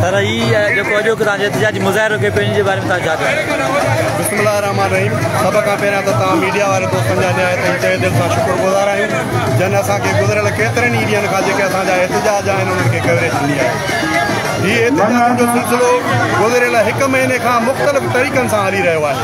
سر هي جيڪو اڄوڪي توهان جي احتجاجي مظاهرو کي پنهنجي جي باري ۾ توهان ڇا چوندو بسم الله الرحمن الرحيم سڀ کان پهريان ته توهان ميڊيا واري دوستن جا نهايت ئي تهه دل سان شڪر گذار آهيون جن اسان کي گذريل ڪيترن ئي ڏينهن کان جيڪي اسان جا احتجاج آهن انهن کي ڪوريج ڏني آهي هي احتجاج جو سلسلو گذريل هڪ مهيني کان مختلف طريقن سان هلي رهيو آهي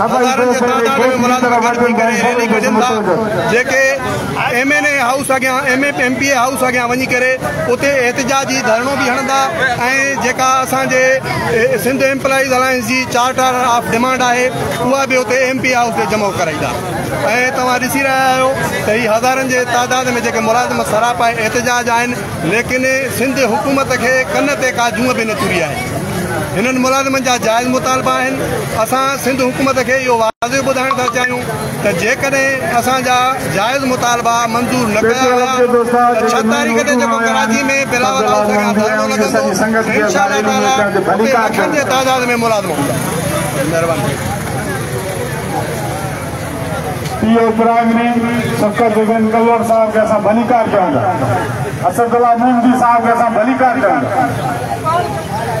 هزارن جي تعداد ۾ ملازم گڏ ٿي ڪري ريلي ڪڍين ٿا جيڪي ايم اين اي هائوس اڳيان M N M P A house اڳيان وڃي ڪري اتي احتجاجي ڌرڻو به هڻندا ۽ جيڪا اسان جي سنڌ ايمپلائيز الائنس جي چارٽر آف ڊيمانڊ آهي اها به اتي ايم پي اي هائوس تي جمع ڪرائيندا ۽ توهان ڏسي رهيا آهيو ته هي هزارن جي تعداد ۾ جيڪي ملازم سراپا احتجاج آهن ليڪن سنڌ حڪومت کي ڪن تي ڪا جونء به نه چري آهي. هنن ملازمن جا جائز مطالبا آهن. اسان سنڌ حڪومت کي اهو واضح ٻڌائڻ ٿا چاهيون ته جيڪڏهن اسان جا جائز مطالبا منظور نه ڪيا ويا ته ڇهه تاريخ تي جيڪو ڪراچي ۾ بلاول هائوس اڳيان ڌرڻو لڳندو ته انشاء الله تعالٰي اتي لکن جي تعداد ۾ ملازم هوندا. مهرباني. P O primary Shafqat Begum Kalwar صاحب کي اسان ڀليڪار چئون ٿا اسد الله مونگي صاحب کي اسان ڀليڪار چئون ٿا